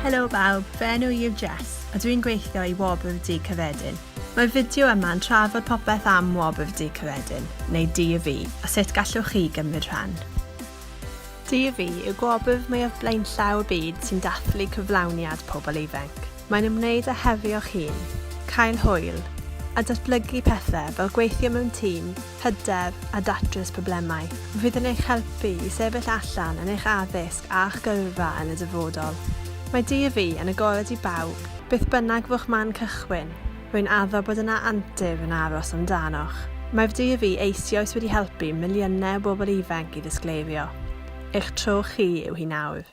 Helo bawb, fy enw i yw Jess, a dwi'n gweithio i Wobr Dŷ Cyffredin. Mae'r fideo yma yn trafod popeth am Wobr Dŷ Cyffredin, neu DUV, a sut gallwch chi gymryd rhan. DUV yw gwobr mwyaf blaenllaw y byd sy'n dathlu cyflawniad pobl ifanc. Mae'n ymwneud â hefio'ch hun, cael hwyl, a datblygu pethau fel gweithio mewn tîm, hydref a datrys problemau. Fydd yn eich helpu i sefyll allan yn eich addysg a'ch gyrfa yn y dyfodol. Mae Dydd Fi yn agored i bawb, beth bynnag fo'ch man cychwyn, rwy'n addo bod yna antur yn aros amdanoch. Mae'r Dydd Fi eisioes wedi helpu miliynau o bobl ifanc i ddisgleirio. Eich tro chi yw hi nawr.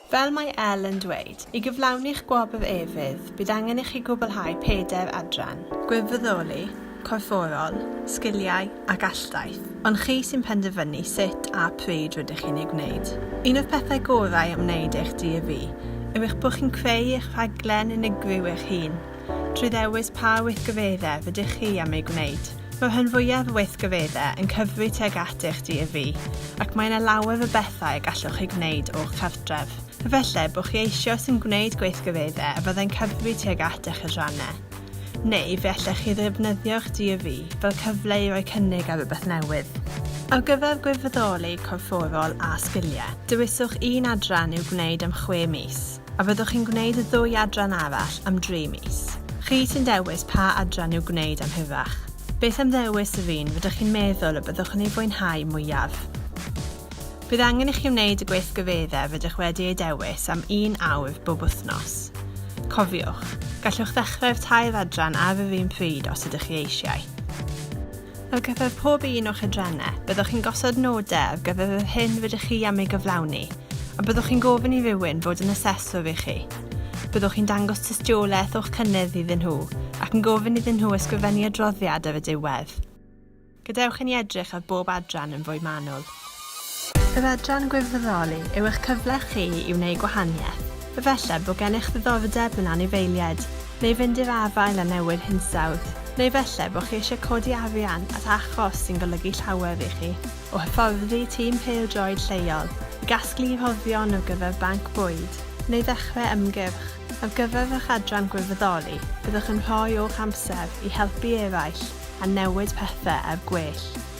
Fel mae Elle yn dweud, i gyflawni'ch gwobr efydd, bydd angen i chi gwblhau pedair adran. Gwirfoddoli, corfforol, sgiliau a galltaith, ond chi sy'n penderfynu sut a pryd rydych chi'n ei gwneud. Un o'r pethau gorau am wneud eich DAV yw eich bod chi'n creu eich rhaglen unigryw eich hun. trwy ddewis pa weithgyfeddau rydych chi am ei gwneud. Mae rhan fwyaf o weithgyfeddau yn cyfri teg at eich DFV, ac mae yna lawer o bethau y gallwch chi gwneud o'ch cartref. Efallai bod chi eisiau sy'n gwneud gweithgyfeddau a fyddai'n cyfri teg at eich adrannau. Neu fe allech chi ddefnyddio'ch DFV fel cyfle i roi cynnig ar rhywbeth newydd. Ar gyfer gwirfoddoli corfforol a sgiliau, dewiswch un adran i'w gwneud am chwe mis. A fyddwch chi'n gwneud y ddwy adran arall am dri mis? Chi sy'n dewis pa adran i'w gwneud am hirach. Beth am ddewis yr un rydych chi'n meddwl y byddwch yn ei fwynhau mwyaf? Bydd angen i chi wneud y gweithgareddau rydych wedi eu dewis am un awr bob wythnos. Cofiwch, gallwch ddechrau'r tair adran ar yr un pryd os ydych chi eisiau. Ar gyfer pob un o'ch adrannau, byddwch chi'n gosod nodau ar gyfer yr hyn rydych chi am ei gyflawni, a byddwch chi'n gofyn i rywun fod yn aseswr i chi. Byddwch chi'n dangos tystiolaeth o'ch cynnydd iddyn nhw ac yn gofyn iddyn nhw ysgrifennu adroddiad ar y diwedd. Gadewch i ni edrych ar bob adran yn fwy manwl. Yr adran Gwirfoddoli yw eich cyfle chi i wneud gwahaniaeth. Efallai bod gennych ddiddordeb mewn anifeiliaid, neu fynd i'r afael â newid hinsawdd, neu efallai bod chi eisiau codi arian at achos sy'n golygu llawer i chi, o hyfforddi tîm pêl-droed lleol, i gasglu rhoddion ar gyfer banc bwyd, neu ddechrau ymgyrch. Ar gyfer eich adran Gwirfoddoli, byddwch yn rhoi o'ch amser i helpu eraill a newid pethau er gwell.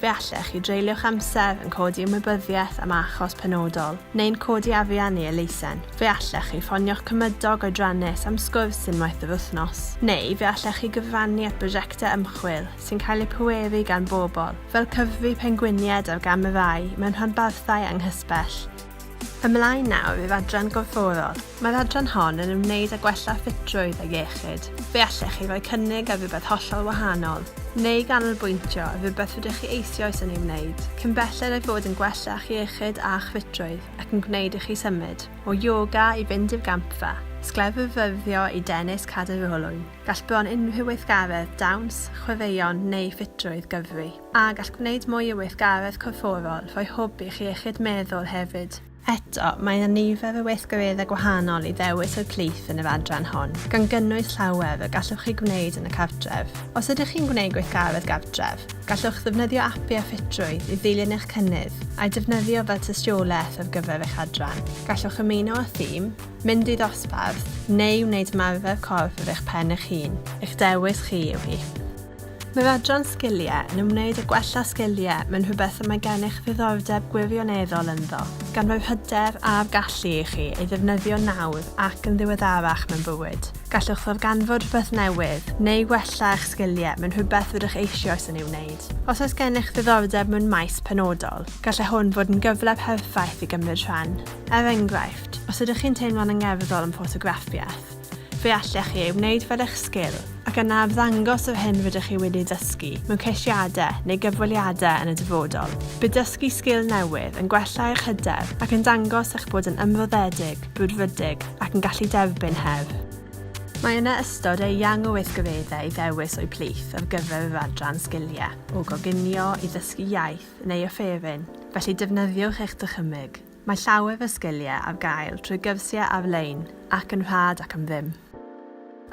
Fe allech chi dreulio'ch amser yn codi ymwybyddiaeth am achos penodol, neu'n codi afian i elusen. Fe allech chi ffonio'ch cymydog oedrannus am sgwrs unwaith yr wythnos. Neu fe allech chi gyfrannu at brosiectau ymchwil sy'n cael eu pweru gan bobl, fel cyfri pengwiniaid ar gamerâu mewn rhanbarthau anghysbell. Ymlaen nawr i'r adran gorfforol. Mae'r adran hon yn ymwneud â gwella ffitrwydd a iechyd. Fe allech chi roi cynnig ar rywbeth hollol wahanol, neu ganolbwyntio ar rywbeth rydych chi eisoes yn ei wneud, cyn belled â'i fod yn gwella'ch iechyd a'ch ffitrwydd ac yn gwneud i chi symud o ioga i fynd i'r gampfa, sgleddfyfyrddio i dennis cadw'r olwyn. Gall bron unrhyw weithgaredd, dawns, chwaraeon neu ffitrwydd gyfri. A gall gwneud mwy i weithgaredd corfforol rhoi hwb i chi iechyd meddwl hefyd. Eto, mae yna nifer o weithgareddau gwahanol i ddewis o'u plith yn yr adran hon, gan gynnwys llawer y gallwch chi gwneud yn y cartref. Os ydych chi'n gwneud gweithgaredd gartref, gallwch ddefnyddio apiau ffitrwydd i ddilyn eich cynnydd, a'u defnyddio fel tystiolaeth ar gyfer eich adran. Gallwch ymuno â thîm, mynd i ddosbarth, neu wneud ymarfer corff ar eich pen eich hun, eich dewis chi yw hi. Mae'r adran Sgiliau yn ymwneud â gwella sgiliau mewn rhywbeth y mae gennych ddiddordeb gwirioneddol ynddo, gan roi'r hyder a'r gallu i chi ei ddefnyddio nawr ac yn ddiweddarach mewn bywyd. Gallwch ddarganfod rhywbeth newydd neu wella eich sgiliau mewn rhywbeth rydych eisioes yn ei wneud. Os oes gennych ddiddordeb mewn maes penodol, gallai hwn fod yn gyfle perffaith i gymryd rhan. Er enghraifft, os ydych chi'n teimlo'n angerddol yn ffotograffiaeth, Fe allech chi ei wneud fel eich sgil ac yna ymddangos yr hyn rydych chi wedi dysgu mewn ceisiadau neu gyfweliadau yn y dyfodol. Bydd dysgu sgil newydd yn gwella eich hyder ac yn dangos eich bod yn ymroddedig, brwdfrydig ac yn gallu derbyn her. Mae yna ystod eang o weithgareddau i ddewis o'u plith ar gyfer yr adran Sgiliau, o goginio i ddysgu iaith neu offeryn, felly defnyddiwch eich dychymyg. Mae llawer o sgiliau ar gael trwy gyrsiau ar-lein ac yn rhad ac am ddim.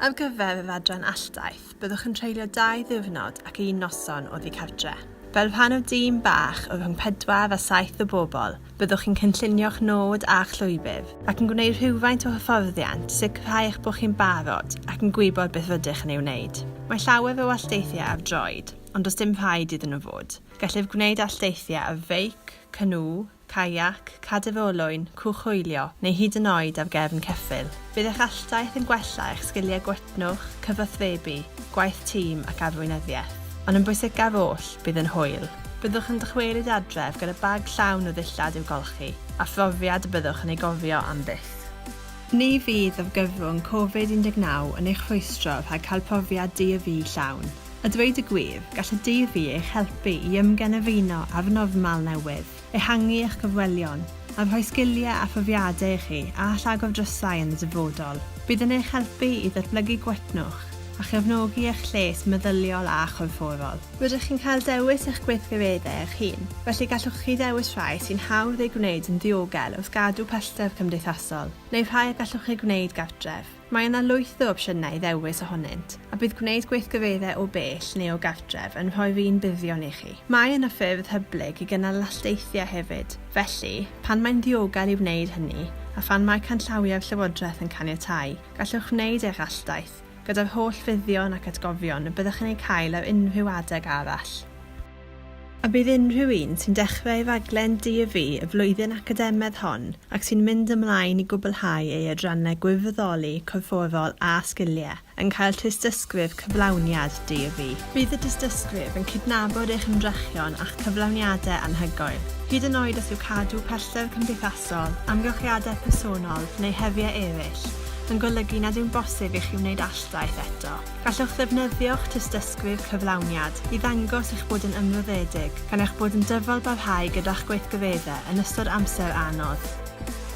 Ar gyfer yr adran alltaith, byddwch yn treulio dau ddiwrnod ac un noson oddi cartre'. Fel rhan o'r dîm bach o rhwng pedwar a saith o bobl, byddwch chi'n cynllunio'ch nod a'ch llwybr ac yn gwneud rhywfaint o hyfforddiant, sicrhau eich bod chi'n barod ac yn gwybod beth rydych yn ei wneud. Mae llawer o allteithiau ar droed, ond does dim rhaid iddyn nhw fod. Gellir gwneud allteithiau ar feic, canŵ, caiac, cadw fy olwyn, cwchwylio, neu hyd yn oed ar gefn ceffyl. Bydd eich alltaith yn gwella eich sgiliau gwytnwch, cyfathrebu, gwaith tîm ac arweinyddiaeth. Ond yn bwysicaf oll, bydd yn hwyl. Byddwch yn dychwelyd adref gyda bag llawn o ddillad i'w golchi, a phrofiad y byddwch yn ei gofio am byth. Ni fydd argyfwng Covid 19 yn eich rhwystro rhag cael profiad di-a-fu llawn. A dweud y gwir, gall y DV eich helpu i ymgenefino â'r normal newydd, ehangu eich cyfwelion, a rhoi sgiliau a phrofiadau i chi a all agor drysau yn y dyfodol. Bydd yn eich helpu i ddatblygu gwytnwch a chefnogi eich lles meddyliol a chorfforol. Rydych chi'n cael dewis eich gweithgareddau eich hun, felly gallwch chi ddewis rhai sy'n hawdd eu gwneud yn ddiogel wrth gadw pellter cymdeithasol, neu rhai y gallwch eu gwneud gartref. Mae yna lwyth o opsiynau i ddewis ohonynt, a bydd gwneud gweithgareddau o bell neu o gartref yn rhoi'r un buddion i chi. Mae yna ffyrdd hyblyg i gynnal llasdeithiau hefyd, felly, pan mae'n ddiogel i wneud hynny, a phan mae canllawiau'r Llywodraeth yn caniatáu, gallwch wneud eich alldaith, gyda'r holl fuddion ac atgofion y byddwch yn eu cael ar unrhyw adeg arall. A bydd unrhyw un sy'n dechrau ei raglen DAV y flwyddyn academaidd hon ac sy'n mynd ymlaen i gwblhau ei adrannau gwirfoddoli, corfforol a sgiliau, yn cael tystysgrif cyflawniad DAV. Bydd y tystysgrif yn cydnabod eich ymdrechion a'ch cyflawniadau anhygoel, hyd yn oed os yw cadw pellter cymdeithasol, amgylchiadau personol neu heriau eraill yn golygu nad yw'n bosib i chi wneud alltaith eto. Gallwch ddefnyddio'ch tystysgrif cyflawniad i ddangos eich bod yn ymroddedig gan eich bod yn dyfalbarhau gyda'ch gweithgareddau yn ystod amser anodd.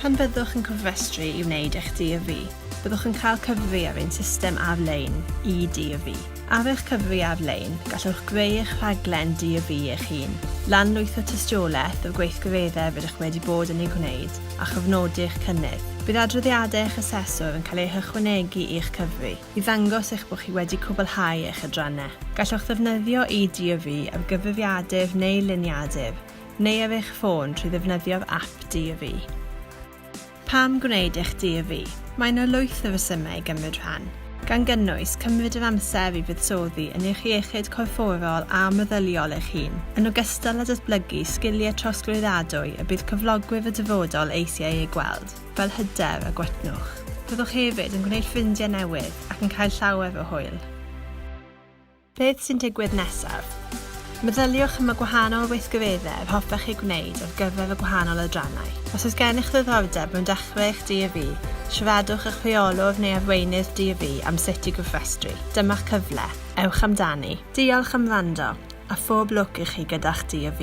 Pan fyddwch yn cofrestru i wneud eich DYFI, byddwch yn cael cyfri ar ein system ar-lein, e-DYFI. Ar eich cyfri ar-lein, gallwch greu eich rhaglen DYFI eich hun, lanlwytho tystiolaeth o'r gweithgareddau rydych wedi bod yn eu gwneud, a chofnodi'ch cynnydd. Bydd adroddiadau eich aseswr yn cael eu hychwanegu i'ch cyfri. i ddangos eich bod chi wedi cwblhau eich adrannau. Gallwch ddefnyddio e-Dyöfu ar gyfrifiadur neu liniadur, neu ar eich ffôn trwy ddefnyddio'r ap Dyöfu. Pam gwneud eich Dyöfu? Mae yna lwyth o resymau i gymryd rhan, gan gynnwys cymryd yr amser i fuddsoddi yn eich iechyd corfforol a meddyliol eich hun, yn ogystal â datblygu sgiliau trosglwyddadwy y bydd cyflogwyr y dyfodol eisiau eu gweld. fel hyder a gwaetnwch. Byddwch hefyd yn gwneud ffrindiau newydd ac yn cael llawer o hwyl. Beth sy'n digwydd nesaf? Meddyliwch am y gwahanol weithgareddau yr hoffech ei gwneud ar gyfer y gwahanol adrannau. Os oes gennych ddiddordeb mewn dechrau eich DAV, siaradwch â'ch rheolwr neu arweinydd DAV am sut i gofrestru. Dyma'ch cyfle. Ewch amdani. Diolch am wrando, a phob lwc i chi gyda'ch DAV.